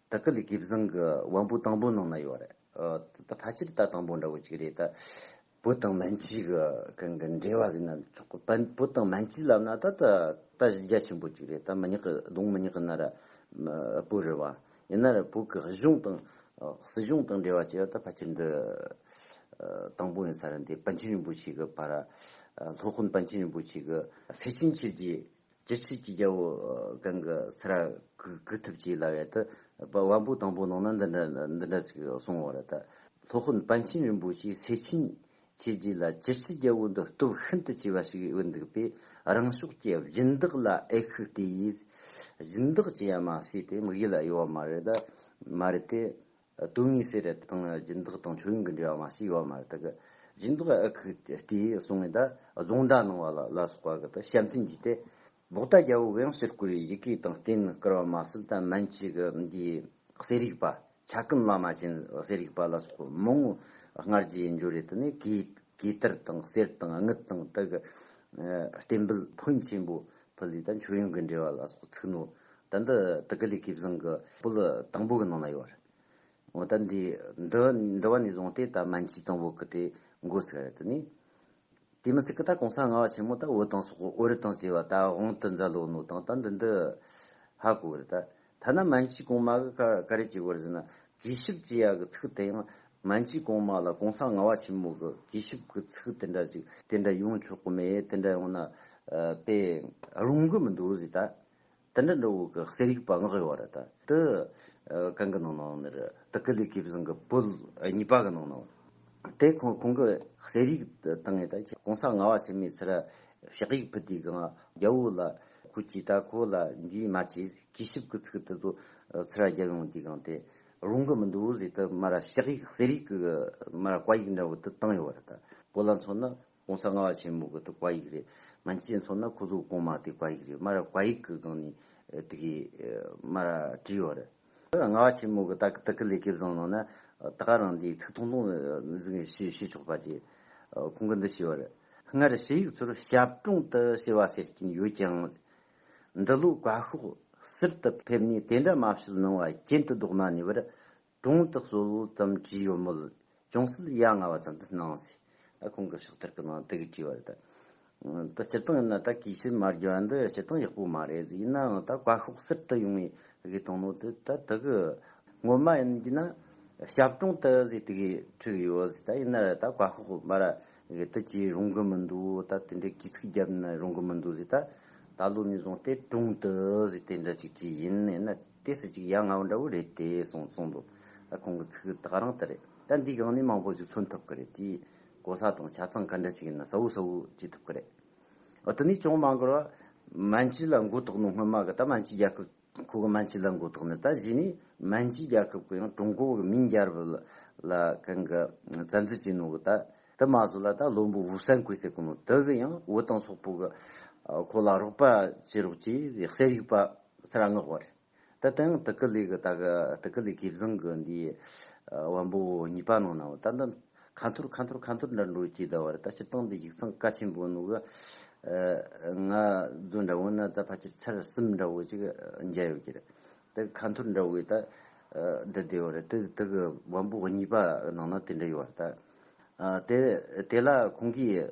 ད་སྐབས་ལས་དགེ་བཟང་གི་དབང་པོ་དང་པོ་ནང་ན་ཡོད་རེད། ད་ཕལ་ཆེར་ད་དང་པོ་འདྲ་བོ་ཅིག་རེད། ད་བོད་དང་མན་ཇི་གི་གང་གི་འབྲེལ་བ་ཟིག་ན་ཆོག་གི། བོད་དང་མན་ཇི་ལབ་ན་ད་ད་གཞི་རྒྱ་ཆེན་པོ་ཅིག་རེད། ད་མི་ཉག་གི་གདོང་མི་ཉག་གི་ན་ར་བོད་རེད་བ། ཡིན་ན་ར་བོད་གི་གཞུང་དང་སྲིད་གཞུང་དང་འབྲེལ་བ་བྱས་པ་ད་ཕལ་ཆེར་འདི་དང་པོ་ཡིན་ས་རེད། འདི་པཎ་ཆེན་རིན་པོ་ཆེ་གི་བ་ར། ལྷོ་དཔོན་པཎ་ཆེན་རིན་པོ་ཆེ་གི། སེ་ཆེན་ཁྱེར་གྱི་ཅི་ཕྱིར་གྱི་རྒྱལ་པོ་གང་གི་ཚེ་ར་གུག་ཐུབ་ཅེས་ལབ་ཡས་དུ། བ་སྤུ་དང་པོ་ནང་ན་འདི་འདྲ་ཅིག་གསུང་བར་ལྟ། ལྷོ་ཁོན་པཎ་ཆེན་རིན་པོ་ཆེའི་སྲས་ཕྱིན་ཆད་རྗེས་ལ་ཅི་ཕྱིར་རྒྱལ་པོ་འདི་སྟོབས་ཤིན་ཏུ་ཆེ་བ་ཞིག་ཡོད་འདུག་པས་རང་ཕྱོགས་ཀྱི་སྦྱིན་བདག་ལ་ཨེ་ཁུག་ལྟོས་ཡིས། སྦྱིན་བདག་ཅི་ཡང་མ་བྱས་ཏེ་དམིགས་ཡུལ་ལ་གཡོལ་བ་མ་རེད་ཏེ། དོན་དངོས་གསལ་རེད་དང་སྦྱིན་བདག་དང་ཆོས་ཡོན་གྱི་འབྲེལ་བ་མ་ཞིག་ཡོད་མ་རེད་དག་སྦྱིན་བདག་ཨ་ཁུ་དེས་གསུང་ངེད་རྫོང་གྲྭ་ནང་བ་ལ་ལ་སོགས་པ་གི་ཞབས་འཐེན་བགྱིས་ཏེ་ལོག་ལྟ་རྒྱལ་པོ་དབྱངས་ཕྱུར་ཀུའི་ཡི་གེ་དང་རྟེན་བསྐུར་བ་མ་གསུམ་དང་མན་ཆི་གི་འདིའི་གསེར་ཡིག་པ་བྱ་ཀུན་བླ་མ་ཆེན་གསེར་ཡིག་པ་ལ་སོགས་པ་མང་བོ་སྔར་རྗེས་ཡིན་རྒྱུ་རེད་དེ་ནས་གོས་དར་དང་གསེར་དང་དངུལ་དང་དག་གི་རྟེན་འབུལ་ཕོན་ཆེན་པོ་ཕུལ་ཡོད་དང་ཆོས་ཡོན་གྱི་འབྲེལ་བ་ལ་སོགས་ཚིག་ནོར་ད་འདི་དི་གི་ལི་གིབ་བཟང་གི་པུ་ལི་དང་པོ་གི་ནང་ན་ཡོད་རེད་འོ་ད་འདི་འདི་འདི་བ་ནས་བཟུང་སྟེ་ད་མན་ཇི་དང་བོ་གི་དེ་འགོ་ཚུགས་རེད་དེ་ནི་དེ་མི་ཚེ་གི་ད་གོང་ས་ང་བ་ཆེན་མོ་ད་འོ་དང་སོག་འོ་རི་དང་བཅས་བ་ད་དབང་དུ་འཛའ་ལོ་ནོ་དང་ད་འདི་འདི་ཧ་གོ་རེད་ད་ཐ་ན་མན་ཇི་གོང་མ་གི་ཀ་ཀ་རེ་གྱི་བར་ཟིན་ན་གིས་ཞིབ་ཅི་ཡ་གི་ཚིག་དེ་ཡང་མན་ཇི་གོང་མ་ལ་གོང་ས་ང་བ་ཆེན་མོ་གི་གིས་ཞིབ་གི་ཚིག་དེ་འདྲ་ཅིག་དེ་འདྲ་ཡོང་ཆོག་གི་མེད་དེ་འདྲ་ཡོང་ན་དཔེ་རུང་གི་མི་འདུག་ཟེར་ད། དེ་འདྲ་འདྲ་བོ་གི་གསེར་ཡིག་པང་གི་བར་དུ། གང་གི་ནང་ནང་ནི། དེ་ཀི་ལི་ཀི་བཟང་གི་པོད་གཉིས་པ་གི་ནང་ནང། དེ་ཁོང་ཁོང་གི་གསེར་ཡིག་དང་ངེད་ད་ཀོང་ས་ང་བ་ཆེན་མོའི་ཚེ་ར་ཕྱག་ཡིག་ཕུད་དེ་གང་རྒྱ་བོ་ལ་ཁོ་ཀྱིས་ད་ཁོ་ལ་འདིའི་མ་ཆེ་གི་ཞིབ་གི་ཚིག་དེ་ཚོ་ཚེ་ར་རྒྱ་ཡོང་དེ་གང་དེ་རུང་གི་མི་འདུག་བོ་ཟེ་དེ་མ་ར་ཕྱག་ཡིག་གསེར་ཡིག་གི་མ་ར་བཀའ་ཡིག་འདྲ་བོ་དེ་བཏང་ཡོད་བར་དུ་ཁོ་ལ་མཚོན་ན ྋགོང་ས་ལྔ་བ་ཆེན་མོ་གི་དགག་པ་ཡིག་རེད། ང་ཚོས་མཚོན་ན་ཁོ་ཚོ་གོང་མ་དེ་དགག་ཡིག་རེད་སྨྲ་ར་དགག་ཡིག་གི་སྒང་ནས་དེ་གའི་སྨྲ་ར་བྲིས་ཡོད་རེད། ལྔ་བ་ཆེན་མོ་གི་དག་དག་གི་ལས་ཀའི་བཟང་ནང་ན་ད་ག་རང་འདིའི་ཚིག་ཐུང་ཐུང་ཟིག་ཤེས་ཤེས་ཆོག་པ་ཅི། ཁོང་གི་འདི་ཞེས་པ་རེད། སྔར་ཕྱི་ཡིག་ཚོར་ཞབས་དྲུང་དུ་ཞེས་པ་ཟེར་གྱིན་ཡོད་ཀྱང། འདི་ལོའི་དགའ་ཤོག་ཟུར་དུ་ཕེབས་ནས་དེ་འདྲ་སྨྲ་བཤད་གནང་བ་རྐྱེན་དུ་ལྡོག་མ་ནུས་པར་གྲོང་དུ་གསོལ་བ་ཙམ་བྲིས་ཡོད་མོད། ཅུང་ཟད་ཡ་ང་བ་ཙམ་དུ་སྣང་སྲིད། ཁོང་གི་ཕྱག་ཐེར་གྱི་ནང་དེ་གའི་དྲི་བ་རེད། ད་སྤྱིར་བཏང་ཡིན་ན་ད་གིས་ཕྱི་མ་རྒྱུ་བ་འདི་སྤྱིར་བཏང་ཡག་པོ་མ་རེད། ཡིན་ནའང་ད་བཀའ་ཤོག་གསེར་དུ་ཡོང་བའི་དགེ་དང་ནོར་དེ་ད་དེ་གའི་ངོ་མ་ཡིན་གྱི་ན། ཞབས་གྲོང་དུ་ཟིག་དེ་གའི་ཁྲི་གི་ཡོད་ཟིག་ད་ཡིན་ན་རེད་ད་བཀའ་ཤོག་སྨ་ར་གི་དེ་གྱིས་རུང་གི་མི་འདུག་ད་དེ་འདྲའི་གིས་ཚིག་བརྒྱབ་ན་རུང་གི་མི་འདུག་ཟིག་ད། ད་ལོ་ནས་བཟུང་སྟེ་གྲོང་དུ་ཟིག་དེ་འདྲ་ཅིག་བྲིས་ཡིན། ཡིན་ན། དེ་སུ་གཅིག་ཡ་ང་བོ་འདྲ་བོ་རེད་དེ་གསུངས་གསུངས་འདུག་ད་ཁོང་གི་ཚིག་དག་རང་ལྟར་རེད་ད་འདིའི་སྒང་ནས་མང་པོ་ཞིག་མཚོན་ཐུབ་ཀྱི་རེད་དེའི་གོ་ས་དང་ཆ་ཚང་ག་འདྲ་ཞིག་ཡིན་ན་གསལ་བོ་གསལ་བོ་བྱེད་ཐུབ་ཀྱི་རེད་འོ་དེ་ནས་ཅུང་མ་འགོར་བར་མན་ཇུ་ལ་མགོ་བཏགས་ནས་སྔོན་མ་གི་ད་མན་ཇུ་རྒྱལ་ཁབ་ཁོ་གི་མན་ཇུ་ལ་མགོ་བཏགས་ནས་ད་གཞི་ནས་མན་ཇུ་རྒྱལ་ཁབ་གི་ཡང་ཀྲུང་གོ་གི་མིང་རྒྱལ་རབས་ལ་གང་གི་བཙན་འཛུལ་བྱས་ནོ་གི་ད་དེ་མ་བཟོ་ལ་ད་བློན་པོ་བུ་སན་ཁོས་ཟེར་གི་ནོ་དེ་གི་ཡང་བུ་དང་སོག་པོ་གི་ཁོ་ལ་རོགས་པ་བྱེད་རོགས་ཅེས་གསལ་རིག་པ་ཚེ་རང་ངག་བར། ད་དེང་དི་ཀི་ལི་གི་ད་གི་དི་ཀི་ལི་གིབ་བཟང་གི་འདི་བམ་པོ་གཉིས་པ་ནང་ནའོ་ད་འདི་ཁ་འཐོར་ཁ་འཐོར་ཁ་འཐོར་འདྲ་འགྲོ་ཅི་ད་བར་ད་སྤྱིར་བཏང་འདི་ཡིག་ཚང་བཀའ་ཆེན་པོ་ནུ་གི་ང་རྫོ་འདྲ་བོ་ན་ད་ཕ་ཆེར་ཚར་གསུམ་འདྲ་བོ་ཅིག་མཇལ་ཡོད་ཀྱི་རེད་ད་གི་ཁ་འཐོར་འདྲ་བོའི་ད་འདི་བདེ་བོ་རེད་དི་ཀི་བམ་པོ་གཉིས་པ་ནང་ན་དེ་འདྲ་ཡོད་བར་ད་དེ་ལ་ཁོང་གིས་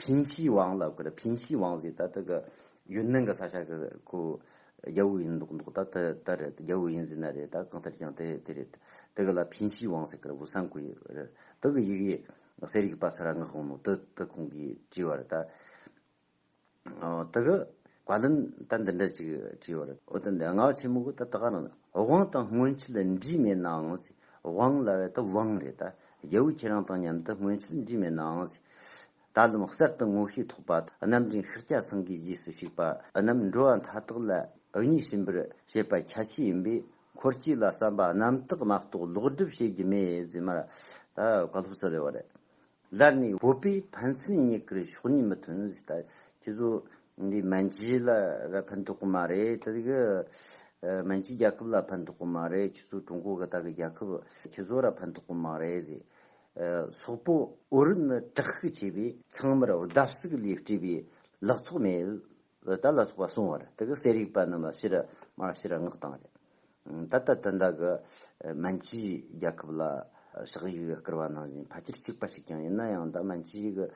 ཕིང་ཤིས་ཝང་ལ་ཁུ་རེ་ཕིང་ཤིས་ཝང་ཟེར་ད་ལྟ་གི་ཡོན་ནན་གི་ས་ཆ་གི་ཁོ་རྒྱལ་བོ་ཡིན་མདོག་མདོག་ད་དེ་ལྟར་རེད་རྒྱལ་བོ་ཡིན་ཟེར་ན་རེད་ད་གང་ལྟར་ཀྱང་དེ་དེ་རེད་དེ་གི་ལ་ཕིང་ཤིས་ཝང་ཟེར་གི་རེད་བུ་སངས་ཁོ་ཡིན་རེད་དེ་གི་ཡི་གེ་ཟེར་ཡིག་པ་ས་ར་ངག་དབང་མོ་དེ་དེ་ཁོང་གིས་བྲིས་བ་རེད་ད། ད་གི་བཀའ་བློན་ད་འདི་འདྲ་ཅིག་བྲིས་བར་ཨོ་ད་འདི་ང་ཆེན་མོ་གི་ད་ད་ག་རང་དབང་དང་སྔོན་ཆད་འདྲིས་མེད་ནའང་སྲིད་དབང་ལ་བས་ད་དབང་རེད་ད་རྒྱལ་བོ་ཁྱེད་རང་དང་མཉམ་དུ་སྔོན་ཆད་འདྲིས་མེད་ནའང་སྲིད་ད་ལམ་གསར་དུ་ངོ་ཤེས་ཐོག་པ་རྣམས་དྲིན་ཤག་སྐྱ་སངས་གིས་རྗེས་སུ་ཞུགས་པ་རྣམས་འགྲོ་བ་མཐའ་དག་ལ་ཨུ་ཉིས་ཟིན་པར་བྱེད་པ་ཁྱད་ཆེ་ཡིན་པས་འཁོར་གྱི་ལ་བསམ་པ་རྣམས་དག་མ་གཏོགས་ལོག་སྒྲིབ་བྱེད་ཀྱི་མེད་ཟེར་མ་ད་བཀའ་སློབ་སྩལ་བ་རེད་ལར་ནི་བོད་པའི་ཕན་ཚུན་གཉིས་ཀར་ཕྱོགས་གཉིས་མི་མཐུན་ཟེར་ད་ཁྱེད་ཚོ་འདི་མན་ཇི་ལ་ར་ཕན་ཐོག་གི་མ་རེད་ད་གི་མན་ཇི་རྒྱལ་ཁབ་ལ་ཕན་ཐོག་གི་མ་རེད་ཁྱེད་ཚོ་ཀྲུང་གོ་གི་ད་གི་རྒྱལ་ཁབ་ཁྱེད་ཚོ་ར་ཕན་ཐོག་གི་མ་རེད་ཟེར་སོག་པོ་ཨོ་རི་ནི་དྲག་ཤུགས་ཆེ་བས་ཚང་མར་བརྡབ་གསིག་ལས་བཀྲིས་པའི་ལག་ཚོགས་མེད་བུ་དར་ལ་སོགས་པ་གསུང་བར་དེ་གི་གསལ་རིག་པ་རྣམས་ལ་ཤི་ར་མར་ཤི་ར་སྔགས་དང་རེ། ད་ལྟ་དུ་འདའ་གི་མན་ཇུའི་རྒྱལ་ཁབ་ལ་ཞག་ཡིག་གི་བསྐུར་བ་ནང་བཞིན་ཕལ་ཆེར་གཅིག་པ་ཞིག་ཀྱང་ཡིན་ན་ཡང་ད་མན་ཇུའི་གི་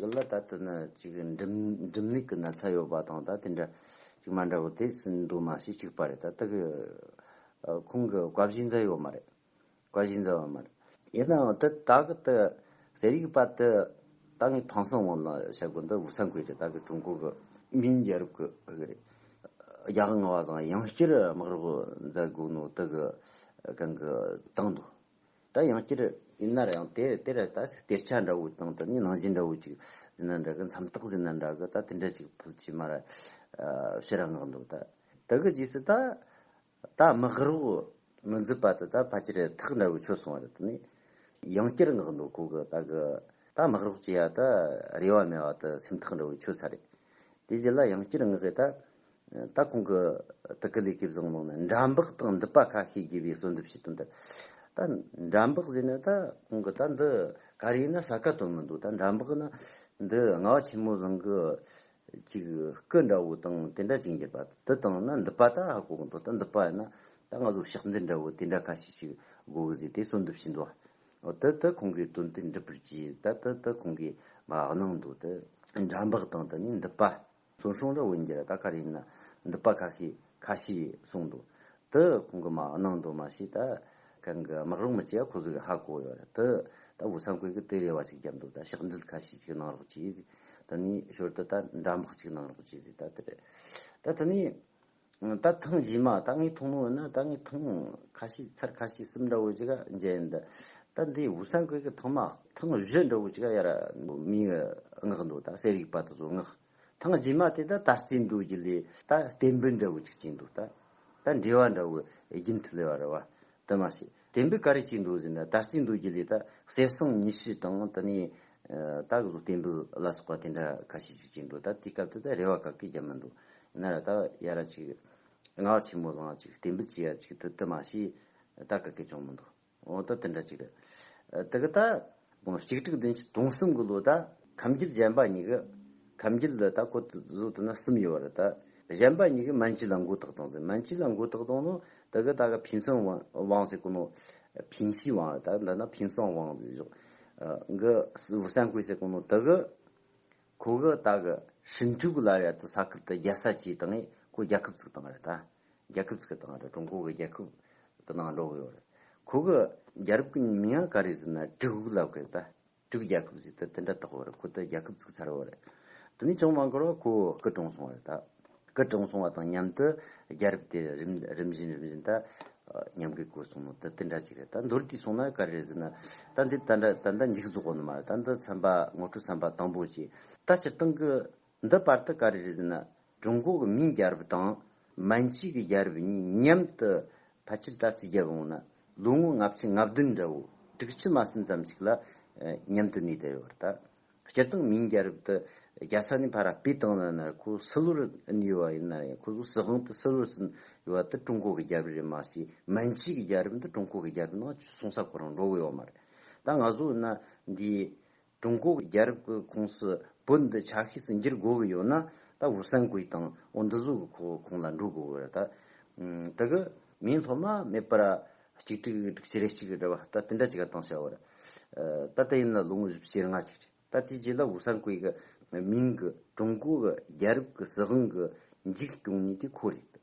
གི་ལ་ད་དུ་ནི་ཅིག་འགྲིམ་ལུགས་གི་ན་ཚ་ཡོད་པ་དང་ད་དེ་འདྲ་ཅིག་མ་འདྲ་བོ་དེ་སུན་འདུ་མ་ཞིག་གཅིག་པ་རེད་ད་དེ་གི་ཁོང་གི་བཀའ་བཞིན་ཛ་ཡོད་མ་རེད། བཀའ་བཞིན་མཛད་པ་མ་རེད། ཡིན་ནའང་དེ་ད་གི་དེ་ཟེར་ཡིག་པ་དེ་ད་ངས་ཕངས་སེམས་དབང་ལ་བཤད་དགོས་འདུག་ཚང་གོས་དེ་ད་གི་ཀྲུང་གོ་གི་མིའི་རྒྱལ་རབས་ཀྱི་དབུ་རེད། རྒྱ་གར་ང་བ་དང་ཡང་བསྐྱར་དམག་རོགས་མཛད་དགོས་ནོ་དེ་གི་གང་གི་བཏང་འདུག་ད་ཡང་བསྐྱར་ཡིན་ནར་ཡང་དེ་དེ་ར་ད་གཏེར་ཆ་འདྲ་བོ་དང་དེ་ནས་ནང་བཞིན་འདྲ་བོ་ཅིག་ཟིན་ན་འདྲ་གི་མཚམས་རྟགས་ཟིན་ན་འདྲ་གི་ད་དེ་འདྲ་ཅིག་ཕུལ་ཅིག་མ་ར་བཤད་ར་ངག་འདུག་ད་དེ་གི་རྗེས་སུ་ད། ད་མི་ཧྲི་བོ་མི་འཛིན་པ་དེ་ད་ཕལ་ཆེར་ཐག་འདྲ་བོའི་ཆོས་སོང་བ་རེད་དེ། ཡང་བསྐྱར་བསྔགས་འདུག་ཁོ་གི་ད་གི་ད་མི་ཧྲི་བོ་སྐྱེ་ཡ་ད་རེ་བ་མེད་བ་དེ་སེམས་ཐག་འདྲ་བོའི་ཆོས་ས་རེད། དེ་རྗེས་ལ་ཡང་བསྐྱར་བསྔགས་ཡས་ད་ད་ཁོང་གི་ད་གི་ལས་ཀའི་བཟང་ལུང་ནི་འདྲ་འབག་དང་འདི་པ་ཁ་ཤས་རྒྱས་པའི་གསོལ་འདེབས་བྱེད་དོན་དེ་ད་འདྲ་འབག་ཟེར་ནས་ད་ཁོང་གི་ད་འདི་ག་རེ་ཡིན་ན་ཟ་ག་དོན་མི་འདུག་ད་འདྲ་འབག་ནི་འདི་ང་བ་ཆེན་མོ་བཟང་གི་ཅིག། སྐུ་འདྲ་བོ་དང་དེ་འདྲ་ཅིག་འགྱུར་པ་དང་དེ་དང་ན་འདི་པ་ད་ཧ་གོ་གི་འདུག་ད་འདི་པ་ན་ད་ང་ཚོ་ཕྱག་མཛད་འདྲ་བོ་དེ་འདྲ་ཁ་ཤས་ཤིག་གོ་གི་ཟིག་དེ་གསོལ་འདེབས་བྱེད་འདུག་ཨོ་དེ་དེ་ཁོང་གིས་དོན་དེ་འགྲུབ་པར་གྱིས་ད་དེ་དེ་ཁོང་གིས་མ་གནང་འདུག་དེ། འདྲ་འབག་དང་དེ་ནས་འདི་པ། ཚོན་ཤོང་འདྲ་བོ་འགྱུར་ད་ག་རེ་ཡིན་ན་འདི་པ་ཁ་ཤས་ཁ་ཤས་གསུངས་འདུག་དེ་གོང་གི་མ་གནང་འདུག་མ་ཤེས་ད་གང་གི་དམག་རོགས་མི་བྱེད་ཁོ་ཚོ་གི་ཧ་གོ་ཡོད་རེད་དེ་ད་བོད་ས་འཁོད་གི་དེ་རེ་བ་ཅིག་བརྒྱབ་འདུག་ད་ཞག་འདུལ་ཁ་ཤས་ཅིག་གནང་རོགས་གྱིས་དེ་ནས་ཞོར་དུ་ད་འདྲ་འབག་ཅིག་གནང་རོགས་གྱིས་ད་དེ་རེད་ད་དེ་ནས་ད་ཐེངས་བཞི་མ་ད་ངས་ཐུགས་སྣང་ཡོད་ན་ད་ངས་ཐེངས་ཁ་ཤས་ཚར་ཁ་ཤས་གསུམ་འདྲ་བོ་ཅིག་མཇལ་ཡོད་འདུག་ད་འདི་བོད་ས་འཁོད་གི་ཐེངས་མ་ཐེངས་བཞི་འདྲ་བོ་ཅིག་ཡར་མིའི་མངགས་འདུག་ད་ཟས་རིགས་པ་དེ་ཚོ་མངགས། ཐང་རྗེས་མ་དེ་ད་ད་སྐྱིད་འདུག་གི་ལས་ད་བསྟན་འབུལ་འདྲ་བོ་ཅིག་སྐྱིད་འདུག་ད་ད་འབྲེལ་བ་འདྲ་བོ་རྒྱུན་མཐུད་ལས་བ་ར་བ་དུ་མ་ཞིག་བསྟན་འབུལ་ག་རེ་སྐྱིད་འདུག་ཟེར་ན་ད་སྐྱིད་འདུག་གི་ལས་ད་གསེར་སྲང་ཉི་ཤུ་དང་དེ་ནས་ད་གཟུགས་བསྟན་འབུལ་ལ་སོགས་པ་དེ་འདྲ་ག་ཤེད་ཅིག་སྐྱིད་འདུག་ད་དེའི་སྐབས་དེ་ད་རེ་བ་ག་གི་རྒྱབ་མི་འདུག་ན་ར་ད་ཡ་ར་ཅིག་ངག་ཆེན་མོ་བཟང་ཅིག་བསྟན་འབུལ་གྱི་ཡ་ཅིག་དུ་དུ་མ་ཞིག་ད་ག་གི་ཅང་མི་འདུག། འོ་ད་དེ་འདྲ་ཅིག། དེ་ག་ད། གཅིག་དྲུག་བདུན་ཅུ་དུང་གསུམ་གི་ལོ་ད། ཁམས་རྒྱུད་གཞན་པ་གཉིས་ཀ། ཁམས་རྒྱུད་ལ་ད་གོ་བཟོ་ཐུབ་ན་གསུམ་ཡོད་པ་རེད་ད། གཞན་པ་གཉིས་ཀས་མན་ཇུ་ལ་མགོ་བཏགས་བཏང་ཟེར་མན་ཇུ་ལ་མགོ་བཏགས་བཏང་ནོ། དེ་ག་ད་ག་ཕིན་སོན་ཝང་ཟེར་གོ་ནོ། ཕིན་ཞི་ཝང་རེད་ད་འདི་ན་ཕིན་སོན་ཝང་ཟེར་བཞོག། གི་ཝུ་སན་ཀུའེ་ཟེར་གོ་ནོ་དེ་གི། ཁོ་གི་ད་གི་ཧྲིན་ཀྲུག་ལ་རེད་ད་ས་ཁུལ་དུ་རྒྱལ་ས་བྱས་བཏང་ངས་ཁོ་རྒྱལ་ཁབ་བཙུགས་བཏང་རེད་ད། རྒྱལ་ཁབ་ཚིག་དང་ཀྲུང་གོ་གི་རྒྱལ་ཁབ་ཀྱི་ནང་འགྲོ་གི་ཡོད། ཁོ་གི་རྒྱལ་རབས་ཀྱི་མིང་ཡང་ག་རེ་ཟེར་ན་གྲི་གུག་ལབ་གི་ད་གྲི་གུག་རྒྱལ་ཁབ་ཟེར་ཏེ་དེ་འདྲ་དག་ཡོད། ཁོ་ད་རྒྱལ་ཁབ་ཚིག་ཚར་བ་རེད། དེ་ནས་ཅུང་མ་འགོར་བར་ཁོ་སྐུ་གྲོངས་སོང་བ་རེད། སྐུ་གྲོངས་སོང་བ་དང་མཉམ་དུ་རྒྱལ་རབས་དེ་རིམ་བཞིན་རིམ་བཞིན་ད་ཉམས་གུད་བཀོད་སོང་ནོ་ད་དེ་འདྲ་ཅིག་རེད། ད་མདོར་བསྡུས་སོང་ན་ག་རེ་ཟེར་ན་ད་འདི་ད་འདྲ་ད་འདྲ་འཇིག་རྫོགས་པ་ནི་མ་རེད། ད་འདི་ཚན་པ་ངོ་སྤྲོད་ཚན་པ་དང་པོ་ཅིག། ད་སྤྱིར་བཏང་གི་འདི་པར་ཐི་ཀ་རི་རིགས་ནི་ཀྲུང་གོ་གི་མིང་རྒྱལ་རབས་དང་མན་ཇུའི་གི་རྒྱལ་རབས་གཉིས་མཉམ་དུ་ཕལ་ཆེར་ད་ལྟའི་རྒྱལ་པོ་ནི་ལོ་ངོ་ལྔ་བཅུ་ལྔ་བདུན་འདྲ་བོ་དྲུག་ཅུ་མ་ཟིན་ཙམ་ཞིག་ལ་མཉམ་དུ་གནས་བསྡད་ཡོད་པ་རེད། སྤྱིར་བཏང་མིང་རྒྱལ་རབས་དེ་རྒྱལ་ས་ནས་ཕ་ར་པའི་ཏང་ནང་ནར་ཁོ་སི་ལོར་གནས་ཡོད་པ་ཡིན་ན་ཡང་ཁོ་ཚོ་སྲིད་དབང་དུ་སི་ལོར་ཟིན་ཡོད་པ་དེ་ཀྲུང་གོ་གི་རྒྱལ་རབས་རེད་མ་ཟད་མན་ཇུའི་གི་རྒྱལ་རབས་འདི་ཀྲུང་གོ་གི་རྒྱལ་རབས་ནང་གསུང་ས་གོ་རང་འགྲོ་གི་ཡོད་མ་རེད། ད་ང་ཚོ་འདི་ཀྲུང་གོ་གི་རྒྱལ་རབས་ཀྱི་ཁོངས་སུ་བོད་འདི་ཆ་ཤས་སུ་འགྱུར་དགོས་ཀྱི་ཡོད་ན་ད་འུ་སན་གུའི་ཏང་འོ་འདི་ཟུག་གི་ཁོག་ཁོང་ལ་འགྲོ་དགོས་ཀྱི་རེད་ད། དྲི་གི་མིང་སློབ་མ་མེད་པར་གཅིག་དྲི་གི་སྒྲིག་བྱེད་རེ་གཅིག་རེ་བ་ད་དེ་འདྲ་གཅིག་གཏང་བྱ་བར། ད་དེ་ཡིན་ན་ལོ་ངོ་བཞི་བཅིར་ལྔ་གཅིག་རེད་ད་དེའི་རྗེས་ལ་འུ་སན་གུའི་གི་མིང་གི་ཀྲུང་གོ་གི་རྒྱལ་རབས་ཀྱི་སྲིད་དབང་གི་འཇིག་སྐྱོང་ཉིད་དེ་ཁོ་རེད།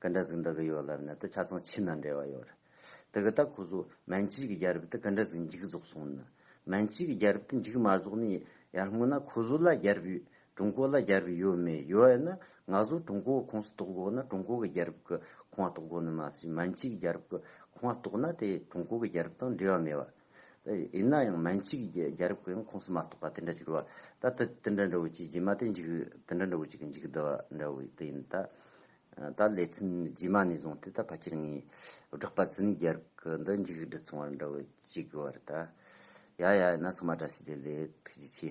ག་འདྲ་ཟིག་འདི་གི་ཡོད་ལབ་ནས་དེ་ཆ་ཚང་ཕྱི་ན་འབྲེལ་བ་ཡོད་རེད། དེ་གི་ད་ཁོ་ཚོ་མན་ཇི་གི་རྒྱལ་རབས་དེ་ག་འདྲ་ཟིག་འཇིག་རྫོགས་སོང་ནི། མན་ཇི་གི་རྒྱལ་རབས་དེ་འཇིག་མ་རྫོགས་ནི་ཡར་སྔོན་ན་ཁོ་ཚོ་ལ་རྒྱལ་རབས་ཡོད་ཀྲུང་གོ་ལ་རྒྱལ་རབས་ཡོད་མེད་ཡོད་ཡོད་ན་ང་ཚོ་ཀྲུང་གོ་གི་ཁོངས་སུ་གཏོགས་དགོས་ན་ཀྲུང་གོ་གི་རྒྱལ་རབས་ཀི་ཁོངས་གཏོགས་དགོས་ནི་མ་ཟད་མན་ཇི་གི་རྒྱལ་རབས་ཀི་ཁོངས་གཏོགས་ན་དེ་ཀྲུང་གོ་གི་རྒྱལ་རབས་དང་འབྲེལ་བ་མེད་བ། ཡིན་ན་ཡང་མན་ཇི་གི་རྒྱལ་རབས་ཀི་ཡང་ཁོངས་སུ་མ་གཏོགས་པ་དེ་འདྲ་འགྱུར་བ་ད་དེ་དེ་འདྲ་འདྲ་བོ་ཅིག་རྗེས་མ་དེ་འཇིག་དེ་འདྲ་འདྲ་བོ་ཅིག་གི་འཇིག་འདི་བ་འདྲ་བོ་དེ་ཡིན་ད། ད་ལས་ཚུན་རྗེས་མ་ནས་བཟུང་སྟེ་ད་ཕ་ཁྱེར་ངའི་བསྒྲགས་པ་ཙི་ནའི་རྒྱལ་ཁ་འདི་མཇུག་བསྒྲིལ་ཚོང་བར་འདྲ་བོ་ཅིག་གི་བར་ད་ཡ་ཡ་ཡིན་ན་ཚང་མ་བཀྲ་ཤིས་བདེ་ལེགས་ཐུགས་རྗེ་ཆེ།